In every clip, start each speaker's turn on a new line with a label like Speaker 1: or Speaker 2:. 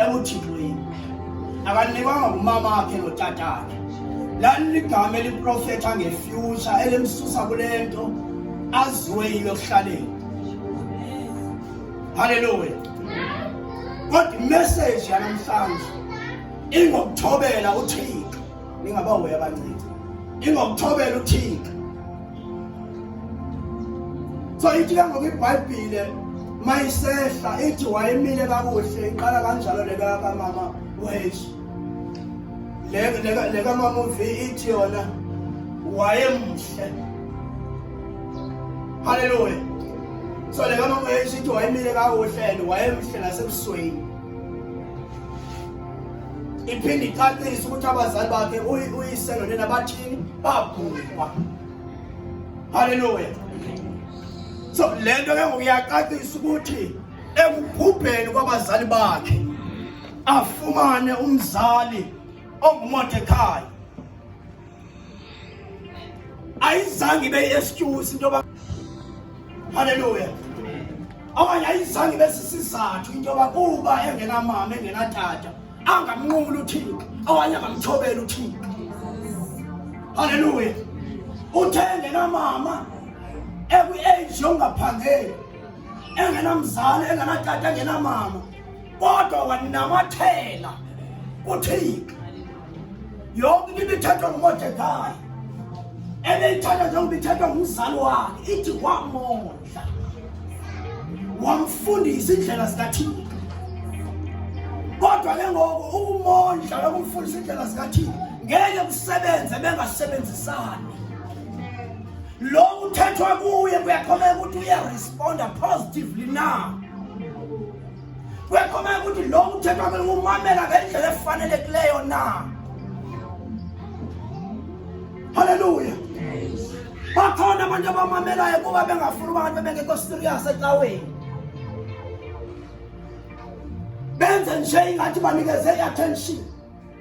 Speaker 1: ebuthixweni akanikwanga ngumama wakhe notata wakhe laliligama eliprofetha ngefyutsha elimsusa kule nto aziwe yilo ekuhlaleni halleluya kodwa imessage yanamhlanje ingokuthobela uthixo ningabahoyi abancinci ingokuthobela uthixo so ithi ke ngoku ibhayibhile mayisehla ithi wayemile kakuhle iqala kanjalo le kamama wethu le kamama uvi ithi yona wayemhle halleluya so le kamama wethu ithi wayemile kakuhle and wayemhle nasebusweni iphinde icacise ukuthi abazali bakhe uyise nonina bathini bagulwa haleluya so le nto ke ngokuyacacisa ukuthi ekubhubheni kwabazali bakhe afumane umzali ongumordekhayi ayizange ibe yi-excuse into yoba halleluya okanye ayizange ibe sisizathu into yoba kuba engenamama engenatata angamnqumuli uthixo okanye angamthobeli uthixo halleluya uthe engenamama ekwi-age yongaphangeli engenamzali engenatata engenamama kodwa wanamathela kuthixo yonke into ibithethwa ngumodekayi ebeyithatha njengoba ithethwa ngumzali wakhe ithi wamondla wamfundisa iindlela zikathixo kodwa ke ngoku ukumondla nokumfundisa iindlela zikathixo ngeke kusebenze bengasebenzisani lo uthethwa kuye kuyakhomeka ukuthi uyaresponda positively na kuyakhomeka ukuthi lo uthethwa kuye umamela ngendlela efanelekileyo na halleluya bakhona abantu abamamelayo kuba bengafuni uba ngathi bebengekho serious ecaweni benze nje ingathi banikeze i-attention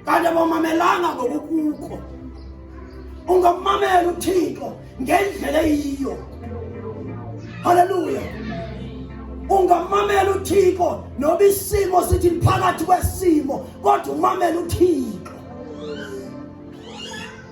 Speaker 1: kanti abamamelanga ngokukukho ungamamela uthixo ngendlela eyiyo halleluya ungamamela uthixo noba isimo sithi phakathi kwesimo kodwa umamela uthixo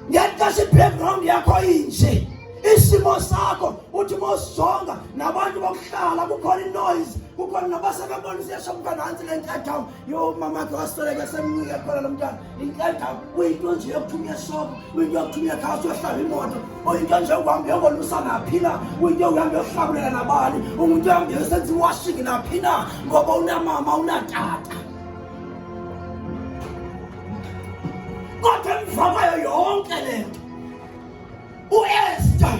Speaker 1: ngexesha i-background yakho inje isimo sakho uthi mosizonga nabantu bokuhlala kukhona inoise kukhona nabasebebonisa yesho kuba nantsi le ntathawu Yo mama yake wasitoleke semnike khona lo mntana inkedaba uyinto nje yokuthumya eshopo uyinto yokuthumya ekhaya uyohlaba imoto uyinto nje yokuhamba yokolusa naphi na uyinto yokuhamba yohlabulela nabani umuntu yohambe yosenza iwashing naphi na ngoba unamama unatata kodwa emva kwayo yonke le nto uester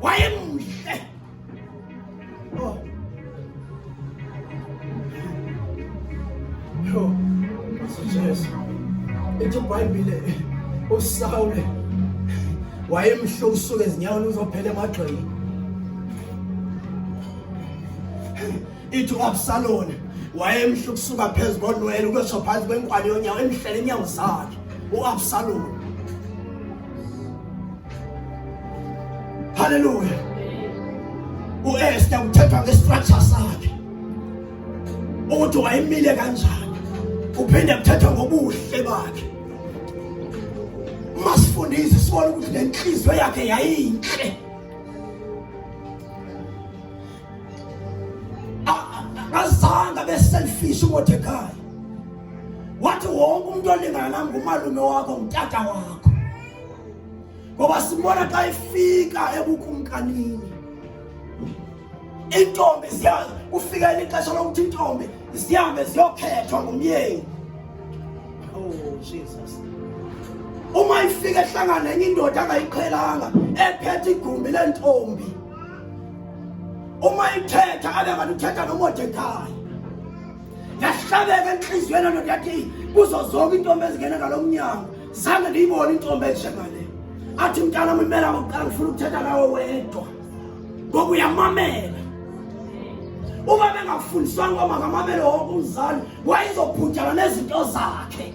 Speaker 1: Wayang! Eh! Oh. Yo, messages. Ito pa ibile. O sawle. Wayemhle usuke ezinyaweni uzophela emagxeni. ithi uabsaloni wayemhle ukusuka phezu konwele ukwesho phansi kwenkwali yonyawo emhlele inyawo zakhe uabsaloni halleluya uester kuthethwa ngestructure sakhe ukuthi wayemile kanjani uphinde kuthethwa ngobuhle bakhe masifundise sibone ukuthi le nhliziyo yakhe yayinhle azange abe selfish uMordecai wathi wonke umuntu olingana nami ngumalume wakho ngutata wakho ngoba sibona xa ifika ebukumkanini intombi ziya kufikela ixesha lokuthi intombi zihambe ziyokhethwa ngumyeni oh jesus uma ifika ehlangana nenye indoda angayiqhelanga ephethe igumbi lentombi uma ithetha abe kanti uthetha nomodekayi yahlabeka entliziyweni loo ndoda yathi kuzo zonke iintombi ezingena ngalo mnyango zange ndiyibone intombi enjengale athi mntana mimela ngokuqala ngifuna ukuthetha nawe wedwa ngoku uyamamela uma bengafundiswanga uba makamamele wonke umzali wayezobhujana nezinto zakhe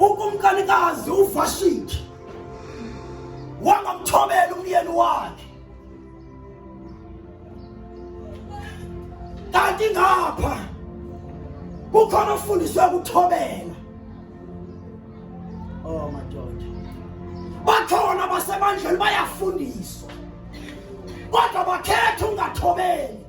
Speaker 1: ukumkanikazi uvashiti wangamthobela umyeni wakhe kanti ngapha kukhona ofundiswe ukuthobela oh madoda bakhona basemandleni bayafundiswa kodwa bakhetha ungathobeli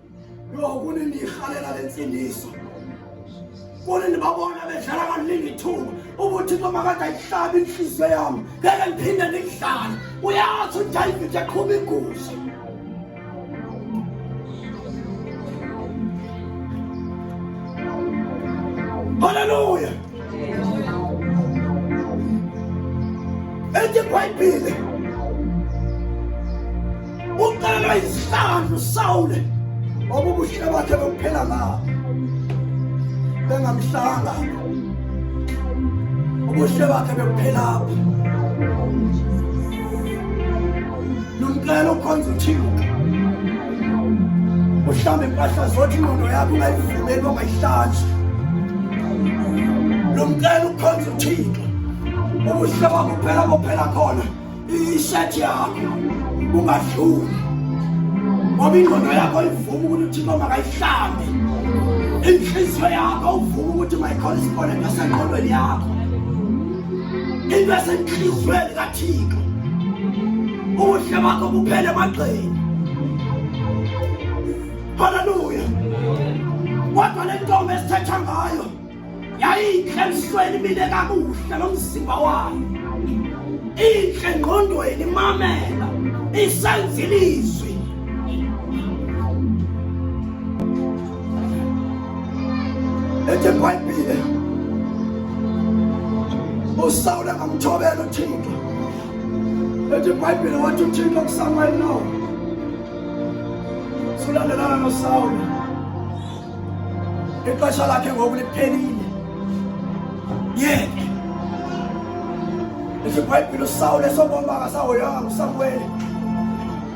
Speaker 1: Yho kuni ndiyirhalela le ntsindiso kuni ndibabona bedlala kaningi ithuba ubuthixo makade ayihlabi intliziyo yam ngeke ndiphinde ndikudlale uyazi udayivide eqhuba inguzi Hallelujah. Eti Bhayibhile uqalwa izihlangu Sawule obubuhle bakhe bokuphela ngabo bengamhlanga ubuhle bakhe bekuphela apho Lumkela ukhonza uthixo uhlambe impahla zothi ingqondo yakho ungayivumeli uba mayihlanjwe lumkela ukhonza uthixo ubuhle bakho phela bophela khona ishethi yakho ungadluli ngoba ingqondo yakho ivuma ukuthi uthixo makayihlambe inhliziyo yakho uvuma ukuthi mayikhona isibonelo sengqondweni yakho into esentliziyweni kathixo ubuhle bakho buphele emagxeni haleluya kodwa le ntombi esithetha ngayo yayintle emsweni imile kakuhle lo mzimba wayo intle ngqondweni imamela isenza ilizwi ethe ibhayibhile usawule ngamthobela uthixo ethe ibhayibhile wathi uthixo kusamuel no sulandelana nosawule ixesha lakhe ngoku liphelile yeke ethe ibhayibhile usawule sobombanga sahoyanga usamuweli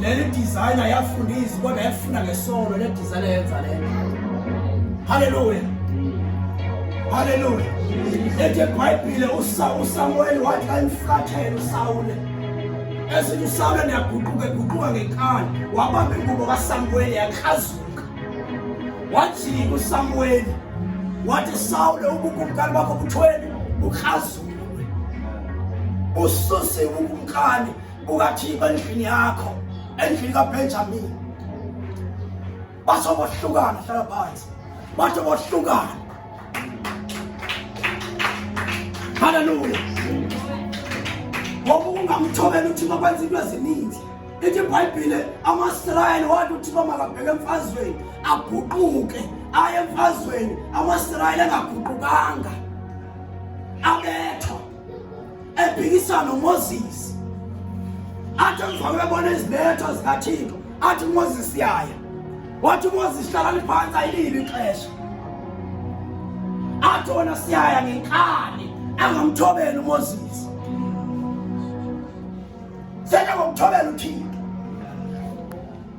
Speaker 1: Leli designer yafundisa kodwa yafuna ngesono le designer yenza lena. Hallelujah. Hallelujah. Ethi eBhayibhile uSamuel wathi xa emflathela uSawule. Esithi uSawule niyaguquka eguquka ngenkani wabamba ingubo kaSamuel yakrazuka. Wajika uSamuel wathi Sawule ubukumkani bakho buthweni bukrazuka. ususe ukumkani kukathixo endlini yakho endlini kabenjamini batsho bohlukana hlala phansi batsho bohlukana halleluya ngoba ungamthobela uthixo kwenza into ezininzi ithi ibhayibhile amasirayeli wathi uthixo makabheke emfazweni aguquke aye emfazweni amasirayeli angaguqukanga abethwa ephikisana uMoses athi emva kwebona izibetho zikathixo athi uMoses yaya wathi uMoses hlala liphantsi ayilili ixesha athi wona siyaya ngenkani angamthobeli uMoses sena ngomthobela uthixo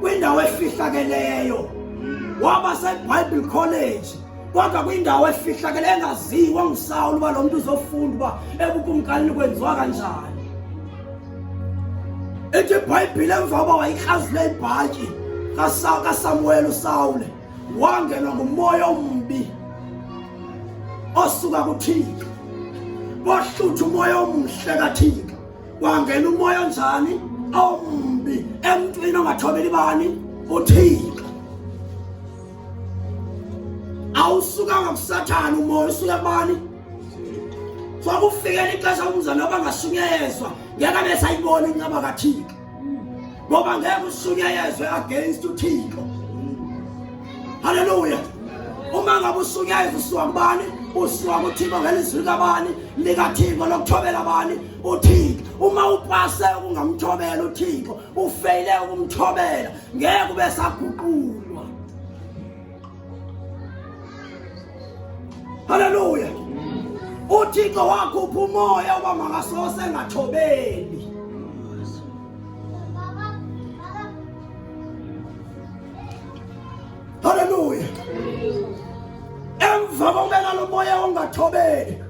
Speaker 1: kwindawo efihlakeleyo waba sebible college kodwa kwindawo efihlakele engaziwa ngusawulo uba lo mntu uzofunda uba ebukumkanini kwenziwa kanjani ithi ibhayibhile emva uba wayikrazule ibhatyi kasamuwele usawule wangenwa ngumoya ombi osuka kuthixo wahlutha umoya omhle kathixo wangena umoya onjani ombi emntwini ongathobeli bani uthixo awusukanga kusathana umoya usuka bani kwakufikela ixesha umzana wabangasunyezwa ngeke besayibona incaba kathixo ngoba ngeke usunyayezwe against uthixo haleluya uma ngabe usunyayeza usuka kubani usuka kuthixo ngelizwi likabani likathixo lokuthobela abani uthixo uma upase ukungamthobela uthixo ufeyile ukumthobela ngeke ube saguqulwa haleluya uthixo wakhupha umoya uba makasose engathobeli Haleluya! Emva kokubeka lo moya ongathobeli,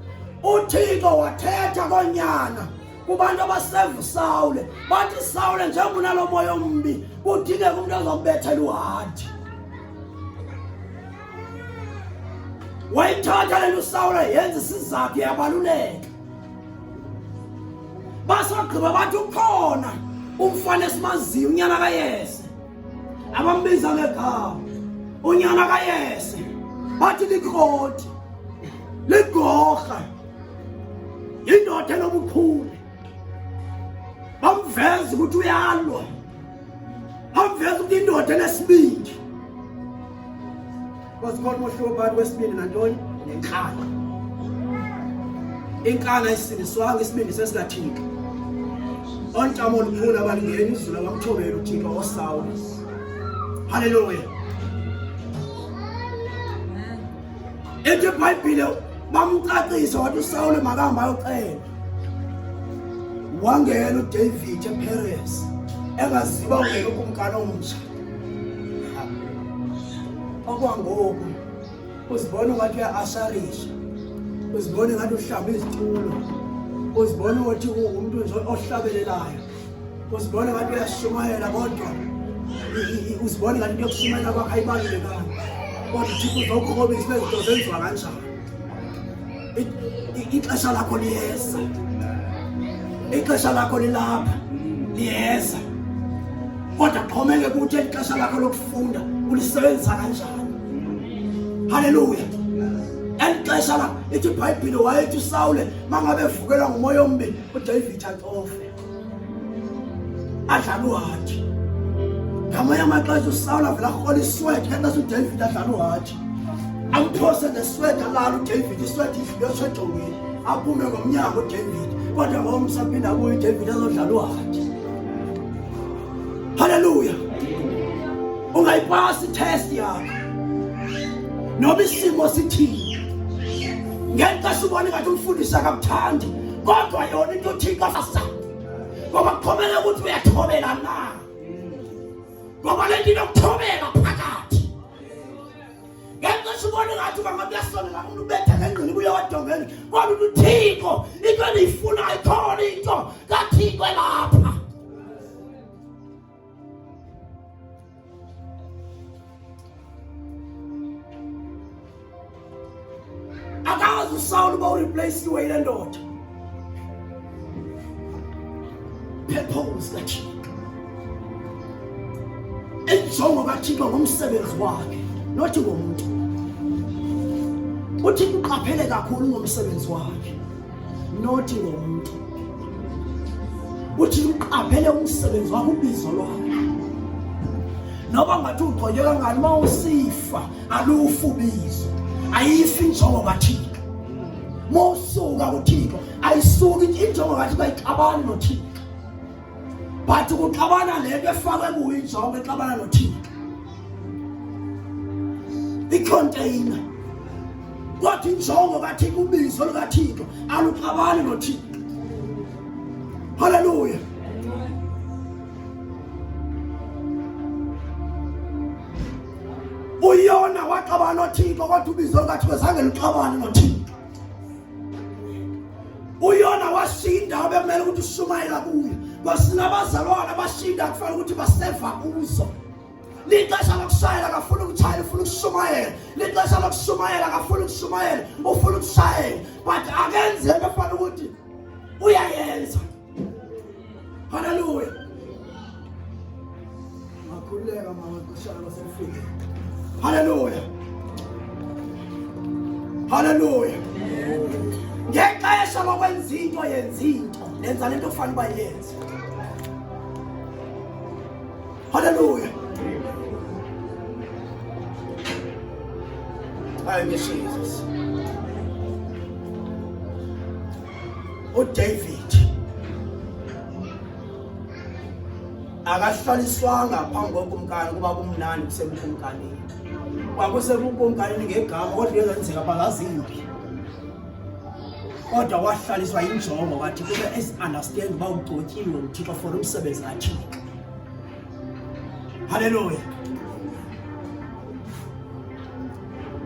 Speaker 1: uThixo wathetha konyana kubantu abasevusawule bathi sawule njengoba unalo moya ombi kudingeka umntu azokubethela uhadi wayithatha le nto usawula yenza isizathu yabaluleka basogqiba bathi ukhona umfana esimaziyo unyana kayese abambiza ngegama unyana kayese bathi likroti ligorha yindoda enobukhulu bamveza ukuthi uyalwa Akuveza ukuthi indoda enesibindi. Wasikhona umhlobo phakathi kwesibindi nantoni? Nenkani. Inkani ayisindiswanga isibindi sesikathika. Ontamo olukhulu abalingeni izulu abamthobela uThixo oSawulu. Hallelujah. ethi ibhayibhile bamcacisa wathi usawule makahamba ayoxela wangena udavid eperes engaziba ungena ukumkani omtsha okwangoku uzibona ungathi uya-asharisha uzibona ngathi uhlamba izitulo uzibona ukuthi ungumntu nje ohlabelelayo Uzibona ngathi uyashumayela kodwa uzibona ngathi into yokushumayela kwakho ayibalulekanga kodwa uthixo uzawukhobisa ibe zinto zenziwa kanjani ixesha lakho liyeza ixesha lakho lilapha liyeza kodwa kuxhomeke kuthi eli xesha lakho lokufunda ulisebenzisa kanjani haleluya eli xesha la ithi ibhayibhile wayethi usawule mangabe evukelwa ngumoya ombi udavid atofe adlala uhathi ngamanye amaxesha usawula vele arhola iswede kanti asudavid adlala uhathi amphose neswede alala udavid iswede idlule esejongweni aphume ngomnyango udavid kodwa ngomsaphinde abuye udavid azodlala uhathi halleluya ungayipasi itest yakho noba isimo sithini ngexesha ubona ingathi umfundisi akakuthandi kodwa yona into uthixo sasa ngoba kukhomela ukuthi uyathobela na ngoba le nto inokuthobela phakathi ngenxa sibona ngathi uba ngakuyasolela umuntu ubetha ngengqini kuye wadongeni kodwa uthi uthixo into endiyifunayo khona into kathixo elapha akazi usawula uba urepleyisiwe yile ndoda purpose kathixo injongo kathixo ngomsebenzi wakhe nothi ngomntu uthixo uqaphele kakhulu ngomsebenzi wakhe nothi ngomntu uthi uqaphele umsebenzi wakho ubizo lwakhe noba ngathi ugqonywe kangani uma usifa alufi ubizo ayifi injongo kathixo uma usuka kuthixo ayisuki injongo kathixo ayixabani nothixo but kuxabana le nto efakwe kuyo injongo exabana nothixo ikhonteyina kodwa injongo kathixo ubizo lukathixo aluxabani nothixo halleluya uyona waxabana nothixo kodwa ubizo lukathixo zange luxabane nothixo uyona washinda abekumele ukuthi ushumayela kuyo kwasinabazalwana bashinda kufanele ukuthi baseva kuzo lixesha lokushayela akafuni ukutshayela ufuna ukushumayela lixesha lokushumayela akafuni ukushumayela ufuna ukushayela but akenzeke efanele ukuthi uyayenza Haleluya! Makulera mama kushana sifike. Haleluya! Haleluya! Ngexesha lokwenza into yenza into, nenza lento ofanele uba yenze. Haleluya! Hayi ngeSizwe. uDavid akahlaliswanga phambi kokumkani kuba kumnandi kusebukumkanini kwakusebukumkanini ngegama kodwa uyezenzeka bangazimbi kodwa wahlaliswa yinjongo wathi kube ezi-understand uba ugcotyiwe uthixo for umsebenzi kathixo halleluya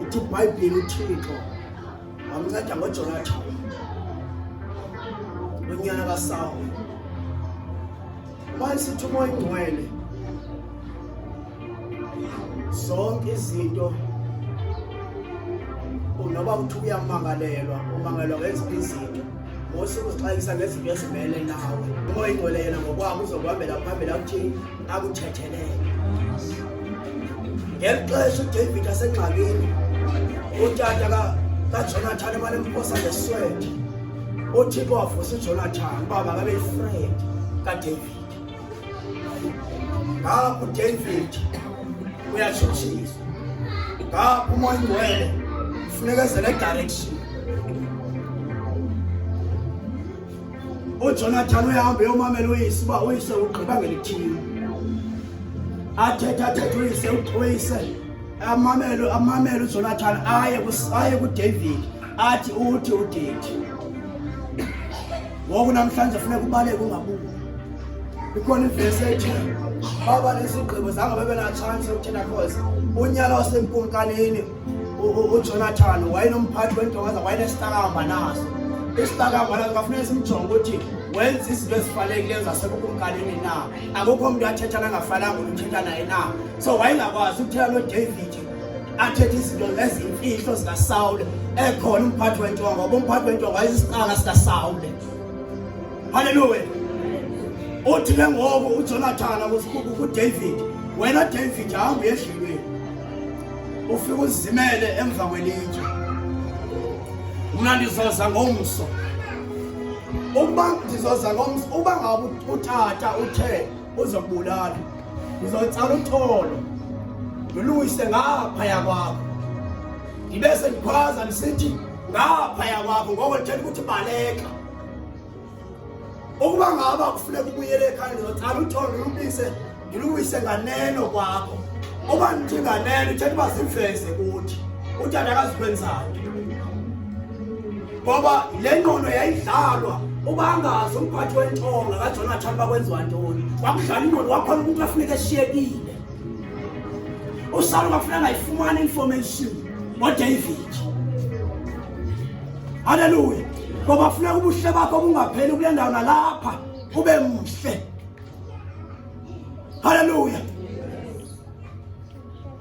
Speaker 1: ithi ibhayibhile uthixo wamnceda ngojonathan lonyana kasawo manje sithi umoya ingcwele zonke izinto noba kuthiwa uyamangalelwa umangalelwa ngezinto izinto ngosuku sixakisa ngezinto ezimele nawe umoya ingcwele yena ngokwabo uzokuhambela phambili akuthini akuthethelele ngeli xesha udavid asengxakini utata kajonathan emane mposa ngeswete uthixo wavusa ujonathan uba makabe yifred kadavid ngapho David uyashutshisa ngapho umoya ingcwele funeka ezele direction ujonathan uyahambe yomamela uyise uba uyise ugqiba ngelithile athethe athethe uyise uyise amamele amamele ujonathan aye aye kudavid athi uthi udidi ngoku namhlanje funeka ubaleke ungabuki ikhona ivesi ethi baba lesigqibo zange bebe natshansi yokuthina cause unyala wasemkumkanini ujonathan wayenomphathi wentonga za wayenesitakamba naso isitakamba naso kafuneka simjonge ukuthi wenza izinto ezifanelekileyo zasebukumkanini na akukho mntu athetha nangafananga uthetha naye na so wayengakwazi ukuthetha nodavid athethe izinto ezimfihlo zikasawule ekhona umphathi wentonga ngoba umphathi wentonga wayesisiqala sikasawule halleluya uthi ke ngoku ujonathana kusibuku kudavid wena david hamba uyedlelweni ufike uzimele emva kwelitshe mna ndizoza ngomso ukuba ndizoza ngomso uba ngabe utata uthe uzokubulala ndizoyitsala uxolo ndiluyise ngaphaya kwakho ndibe sendikhwaza ndisithi ngaphaya kwakho ngoko ndithela ukuthi baleka ukuba ngaba kufuneka ubuyele ekhaya ndizotsala utholo ndilubise ndilubise nganeno kwakho uba ndithi nganeno uthetha uba ziveze kuthi utata akazikwenzayo ngoba le ngqondo yayidlalwa ubangazi umphathi wentonga kajonathan bakwenziwa ntoni kwakudlala ingqondo wakhona umuntu afuneka eshiyekile usalo kwakufuneka ngayifumana information ngodavid halleluya ngoba funeka ubuhle bakho bungapheli kule ndawo nalapha ube mhle halleluya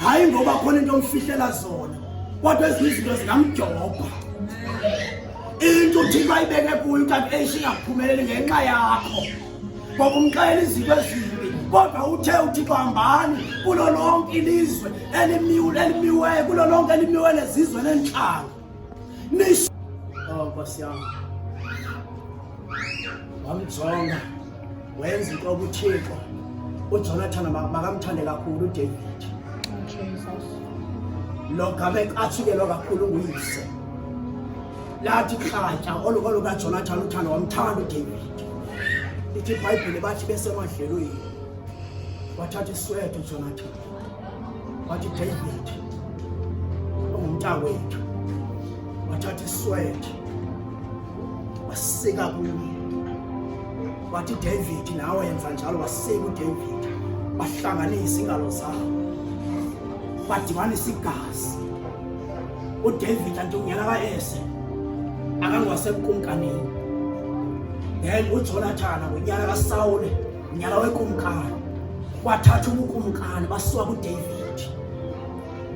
Speaker 1: hayi ngoba khona into omfihlela zona kodwa ezinye izinto zingamjobha into uthixo ayibeke kuyo kanti eish ingaphumeleli ngenxa yakho ngoba umxelela izinto ezimbi kodwa uthe uthixo hambani kulo lonke ilizwe elimiwele kulo lonke elimiwele zizwe nentlanga Naisu. Oh, Nkosi yam. Wamjonga. Wenza into obuthixo. UJonathan makamthande kakhulu uDavid. Jesus. Lo game athukelwa kakhulu nguyise. Lathi khatya olukolo kaJonathan uthando wamthanda uDavid. Ithi iBhayibhile bathi besemadlelweni. Wathatha isweto uJonathan. wathi David ungumntakwethu wathatha iswede wasika kuye wathi David nawe yenza njalo wasika uDavid bahlanganisa ingalo zabo badibanisa igazi uDavid antungena kaese akangawasekumkanini then uJonathan ngonyaka kaSawule nyala wekumkani wathatha ubukumkani basuka kudavid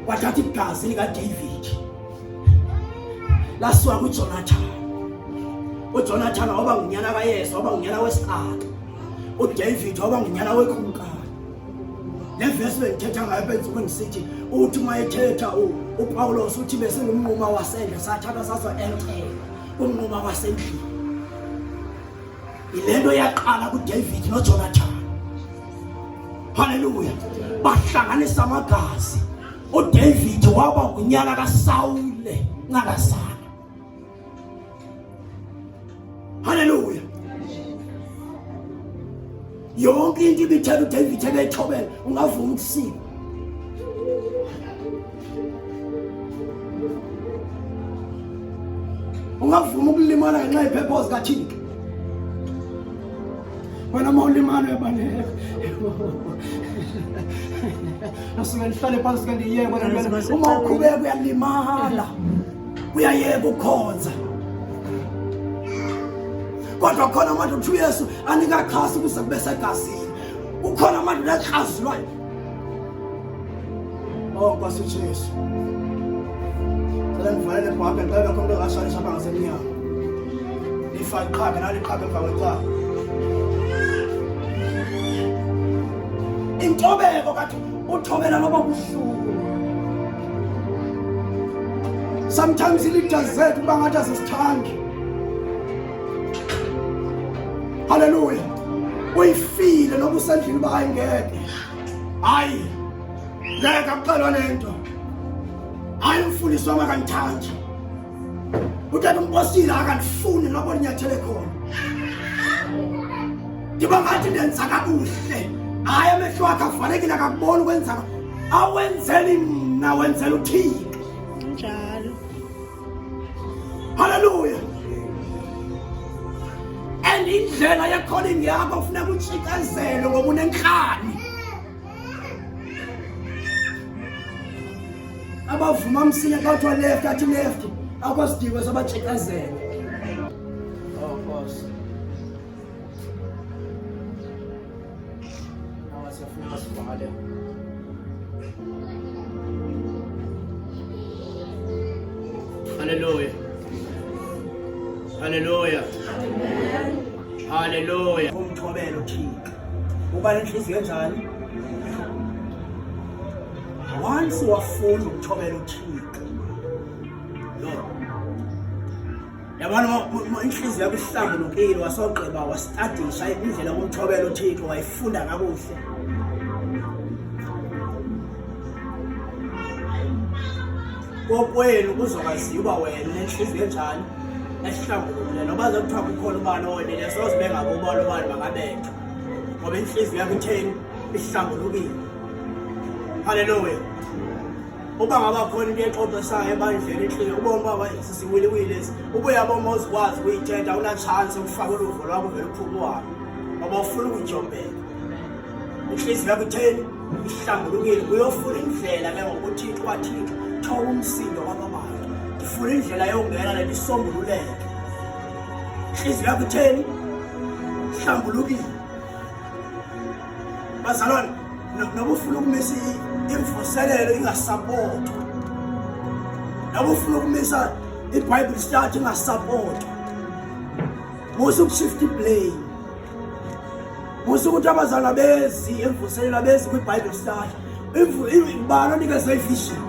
Speaker 1: wathatha igazi likadavid lasuka kujonathan ujonathan waba ngunyana kayesu waba ngunyana wesixaka udavid waba ngunyana wekumkani le vesi bendithetha ngayo benzima ndisithi uthi uma ethetha upawulos uthi besingumnquma wasendle sathatha sazoentela umnquma wasendlini yile nto yaqala kudavid nojonathan halleluya bahlanganisa amagazi udavid waba ngunyana kasawule ncalasana halleluya yonke into ibithela udavid ebethobela ungavuma ukusika ungavuma ukulimala ngenxa yephepho zikathixo wena uma ulimala uyabaleka nasuke ndihlale phansi ke ndiyeke uma uqhubeka uyalimala uyayeka ukhonza kodwa khona amandla ukuthi uyesu anikaxhasi ukuze kube segazini ukhona amandla nakrazilwayo o oh, nkosi ujesu cela ndivalele bhake xa bekho umntu ongashalisa apha ngasemnyango ndifake qhabe naliqhabe emva kwecala intobeko kathi uthobela loba buhlungu sometimes i-leaders zethu uba ngathi azisithandi haleluya uyifile noba usendlini uba hayi ngeke hayi ngeke akuqalwa le nto hayi umfundisi wam akandithandi utata umbosile akandifuni noba ndinyathele khona ndiba ngathi ndenza kakuhle hayi amehlo wakhe avalekile akakubona ukwenzaka awenzeli mna wenzela uthixo Hallelujah. And indlela ye calling yakho kufuneka utshikezelo ngoba unenhlani. Abavuma msinya bathi wa left athi left akwasidingo sabatshikezelo. Haleluya. Haleluya. Haleluya. Umthobelo uThixo. Uba nenhliziyo enjani? Once wafunda ukuthobela uThixo. Lo. yabona intliziyo yakho ihlambulukile wasogqiba wasitadisha indlela kumthobela uthixo wayifunda kakuhle kokwenu kuzokwaziwa uba wena unentliziyo enjani esihlambulukile noba zokuthiwa kukhona ubani owonile soze bengakubona ubani bangabethwa ngoba intliziyo yakho itheni ihlambulukile halleluya uba ngabakhona into exoxisayo ebandleni inhliziyo ubona uba sisiwiliwili esi ubuya boma uzikwazi ukuyithetha unatshansi ukufaka uluvo lwakho vele uphume uhambe ngoba ufuna ukujombeka inhliziyo yakho itheni ihlambulukile uyofuna indlela ke ngokuthixo kwathixo thoba umsindo kwababantu ndifuna indlela yongena le ndisombululeke inhliziyo yakho itheni ihlambulukile bazalwane noba ufuna ukumisa imvuselelo ingasapotwa noba ufuna ukumisa ibible study ingasapotwa musa ukushifta iblame musa ukuthi abazalwa bezi emvuselelo abezi kwibible study bani onikeze ivision